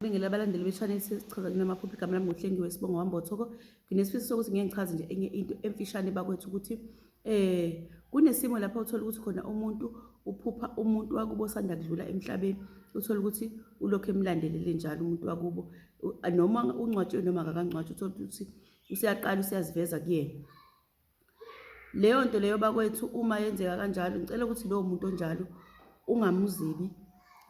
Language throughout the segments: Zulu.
Ngibingela abalandeli be-Channel Sichaza Nina Maphupho igama lami ngoHlengiwe Sibonga Wambothoko. Nginesifiso sokuthi ngeke ngichaze nje enye into emfishane bakwethu ukuthi eh kunesimo lapho uthola ukuthi khona umuntu uphupha umuntu wakubo osanda kudlula emhlabeni uthola ukuthi ulokhu emlandelele njalo umuntu wakubo noma uncwatshwe noma akakangcwatshwa uthola ukuthi useyaqala useyaziveza kuyena Leyo nto leyo bakwethu uma yenzeka kanjalo ngicela ukuthi lowo muntu onjalo ungamuzibi,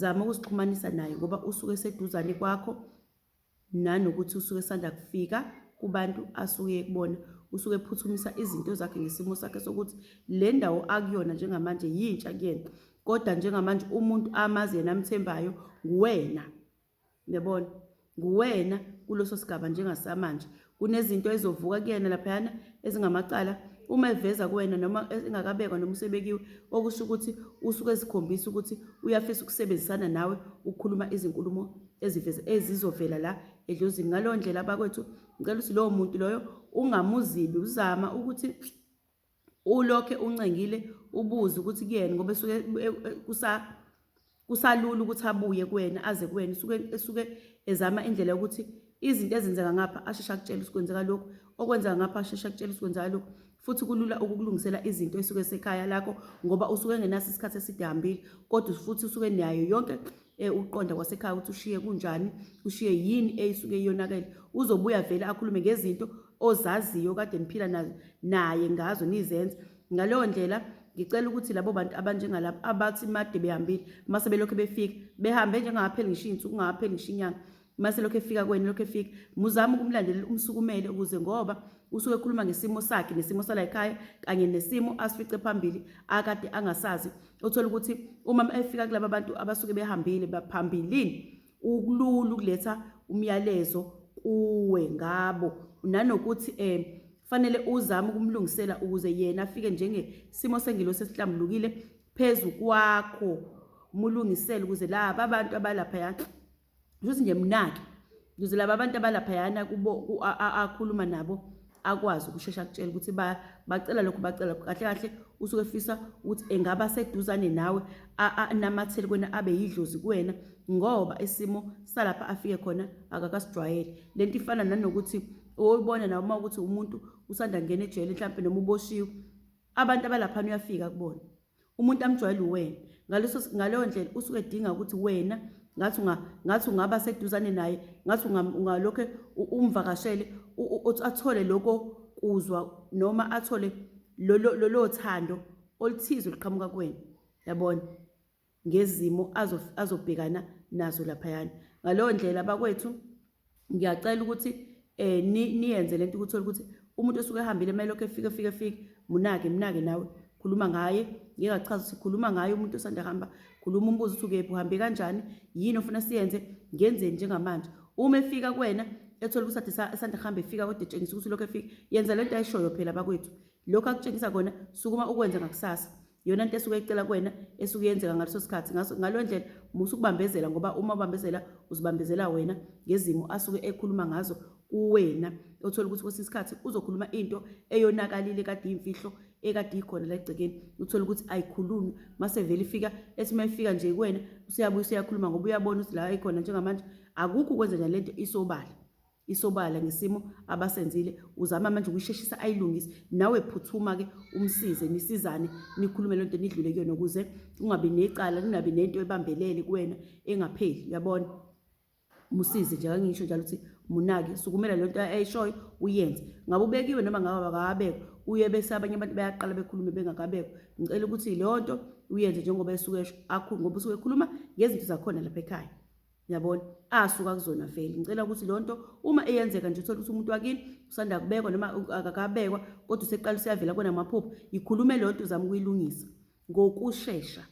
zama ukusixhumanisa naye ngoba usuke eseduzane kwakho nanokuthi usuke esanda kufika kubantu asuke kubona usuke ephuthumisa izinto zakhe ngesimo sakhe sokuthi le ndawo akuyona njengamanje yintsha kuyena, kodwa njengamanje umuntu amazi yena amthembayo nguwena. Uyabona? Nguwena kuleso sigaba njengasamanje. Kunezinto ezizovuka kuyena laphayana ezingamacala uma eveza kuwena noma engakabekwa noma usebekiwe okusho ukuthi usuke ezikhombisa ukuthi uyafisa ukusebenzisana nawe ukukhuluma izinkulumo eziveza ezizovela la edlozini ngaleyo ndlela abakwethu ngicela ukuthi lowo muntu loyo ungamuzibi uzama ukuthi ulokhe uncengile ubuze ukuthi kuyena ngoba esuke e, e, kusa kusalula ukuthi abuye kuwena aze kuwena usuke esuke ezama indlela yokuthi izinto ezenzeka ngapha asheshe akutshela ukuthi kwenzeka lokhu okwenzeka ngapha asheshe akutshela ukuthi kwenzeka lokhu futhi kulula ukukulungisela izinto esuke sekhaya lakho ngoba usuke engenaso isikhathi eside hambile kodwa futhi usuke nayo yonke eh, uqonda kwasekhaya ukuthi ushiye kunjani ushiye yini eyisuke iyonakele uzobuya vele akhulume ngezinto ozaziyo kade niphila nazo naye ngazo nizenza ngaleyo ndlela ngicela ukuthi labo bantu abanjengalabo abathi made behambile mase belokhu befika behambe njengapheli ngisho insuku ngapheli ngisho inyanga mase lokho efika kwena lokho efika muzama ukumlandelela umsukumele ukuze ngoba usuke ekhuluma ngesimo sakhe nesimo sala ekhaya kanye nesimo asifice phambili akade angasazi uthola ukuthi uma efika kulaba bantu abasuke behambile baphambilini ukulula ukuletha umyalezo kuwe ngabo nanokuthi um fanele uzame ukumlungisela ukuze yena afike njengesimo sengilo sesihlambulukile phezu kwakho mulungisele ukuze laba abantu abalapha yakhe ukuthi ngiyemnaki ukuze laba abantu abalaphayana kubo akhuluma nabo akwazi ukushesha akutshela ukuthi bacela lokhu bacela lokhu kahle kahle usuke efisa ukuthi engaba seduzane nawe anamathele kwena abe yidlozi kuwena ngoba isimo salapha afike khona akakasijwayele le nto ifana nanokuthi oyibona nawe uma ukuthi umuntu usanda kungena ejele mhlawumpe noma uboshiwe abantu abalaphana uyafika kubona umuntu amjwayele uwena ngaleso ngaleyo ndlela usuke edinga ukuthi wena ngathi unga ngathi ungaba seduzane naye ngathi ungalokho umvakashele athole lokho kuzwa noma athole lolo lolo thando oluthize liqhamuka kuwena yabona ngezimo azobhekana nazo laphayana ngaleyo ndlela bakwethu ngiyacela ukuthi eh niyenze lento ukuthi ukuthi umuntu osuke ehambile kumele lokho efike efike efike munake munake nawe khuluma ngaye ngeke achaze sikhuluma ngaye umuntu osanda hamba khuluma umbuzo ukuthi ukephi uhambe kanjani yini ofuna siyenze ngenzeni njengamanje uma efika kuwena ethola ukuthi ade esanda kuhamba efika kodwa etshengisa ukuthi lokho efika yenza lento ayishoyo phela bakwethu lokho akutshengisa kona sukuma ukwenza ngakusasa yona nto esuke icela kuwena esuke yenzeka ngaleso sikhathi ngaleyo ndlela musa ukubambezela ngoba uma ubambezela uzibambezela wena ngezimo asuke ekhuluma ngazo kuwena othola ukuthi kwesinye isikhathi uzokhuluma into eyonakalile kade iyimfihlo ekade ikhona la egcekeni uthola ukuthi ayikhulunywa mase vele ifika ethi uma ifika nje kuwena useyabuya useyakhuluma ngoba uyabona ukuthi la ikhona njengamanje akukho ukwenza njani lento isobala isobala ngesimo abasenzile uzama manje ukuyisheshisa ayilungise nawe phuthuma ke umsize nisizane nikhulume lonto nidlule kuyona ukuze ungabi necala ningabi nento ebambelele kuwena engapheli uyabona musize nje kangisho njalo ukuthi munake sukumela lento ayishoyo uyenze ngabe ubekiwe noma ngabe akabekho uye bese abanye abantu bayaqala bekhulume bengakabekho ngicela ukuthi leyo nto uyenze njengoba esuke esho akhulu ngoba usuke ekhuluma ngezinto zakhona lapha ekhaya yabona asuka kuzona vele ngicela ukuthi lo nto uma eyenzeka nje uthole ukuthi umuntu wakini usanda kubekwa noma akakabekwa kodwa useqala usiyavela kona amaphupho yikhulume lo nto uzama ukuyilungisa ngokushesha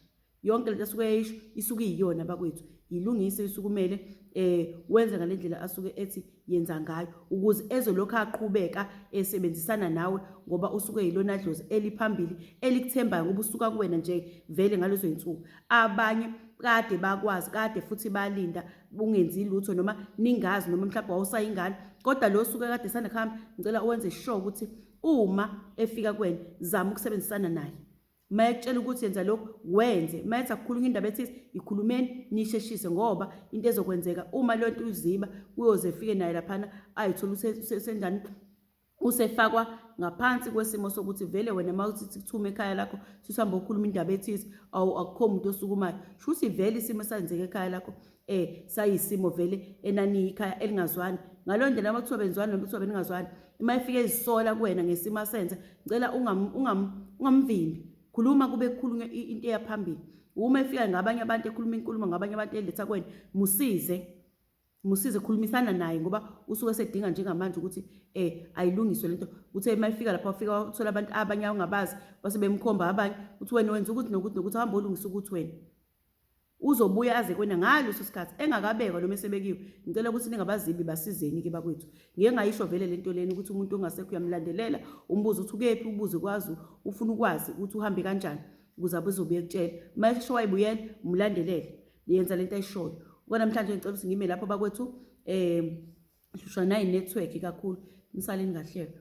yonke lento asuke eyisho isuke iyiyona bakwethu yilungise isukumele eh wenza ngalendlela asuke ethi yenza ngayo ukuze ezolokhu aqhubeka esebenzisana nawe ngoba usuke yilona dlozi eliphambili elikuthembayo ngoba usuka kuwena nje vele ngalezo zinsuku abanye kade bakwazi kade futhi balinda ungenzi lutho noma ningazi noma mhlawumbe wawusayingane kodwa lo suke kade sanda kuhamba ngicela uwenze sure ukuthi uma efika kuwena zama ukusebenzisana naye uma ekutshela ukuthi yenza lokhu wenze uma ethi akukhulunywa indaba ethi ikhulumeni nisheshise ngoba into ezokwenzeka uma leyo nto uziba uyoze efike naye laphana ayithole usenjani usefakwa ngaphansi kwesimo sokuthi vele wena uma uthi kuthume ekhaya lakho susihambe okhuluma indaba ethize awu akukho muntu osukumayo shuthi vele isimo esenzeka ekhaya lakho eh sayisimo vele enaniyikhaya elingazwani ngaleyo ndlela uma kuthiwa benzwani noma kuthiwa beningazwani uma efike ezisola kuwena ngesimo asenze ngicela ungamvimbi khuluma kube kukhulunywa into eyaphambili uma efika ngabanye abantu ekhuluma inkulumo ngabanye abantu eletha kwena musize musize khulumisana naye ngoba usuke sedinga njengamanje ukuthi eh ayilungiswe lento uthe uma ifika lapha ufika wathola abantu abanye awungabazi base bemkhomba abanye uthi wena wenza ukuthi nokuthi nokuthi hamba olungisa ukuthi wena Uzobuya aze kwena ngaleso sikhathi engakabekwa noma esebekiwe. Ngicela ukuthi ningabazimbi basizeni ke bakwethu. Ngeke ngayisho vele lento lena ukuthi umuntu ongasekho uyamlandelela umbuzo uthi ukephi ubuze kwazi ufuna ukwazi ukuthi uhambe kanjani ukuze abezobuye ekutshela. Uma esho wayibuyela umlandelele. Yenza lento ayishoyo. Kwanamhlanje ngicela ukuthi ngime lapho bakwethu eh hlushwa nayi network kakhulu. Nisaleni kahleka.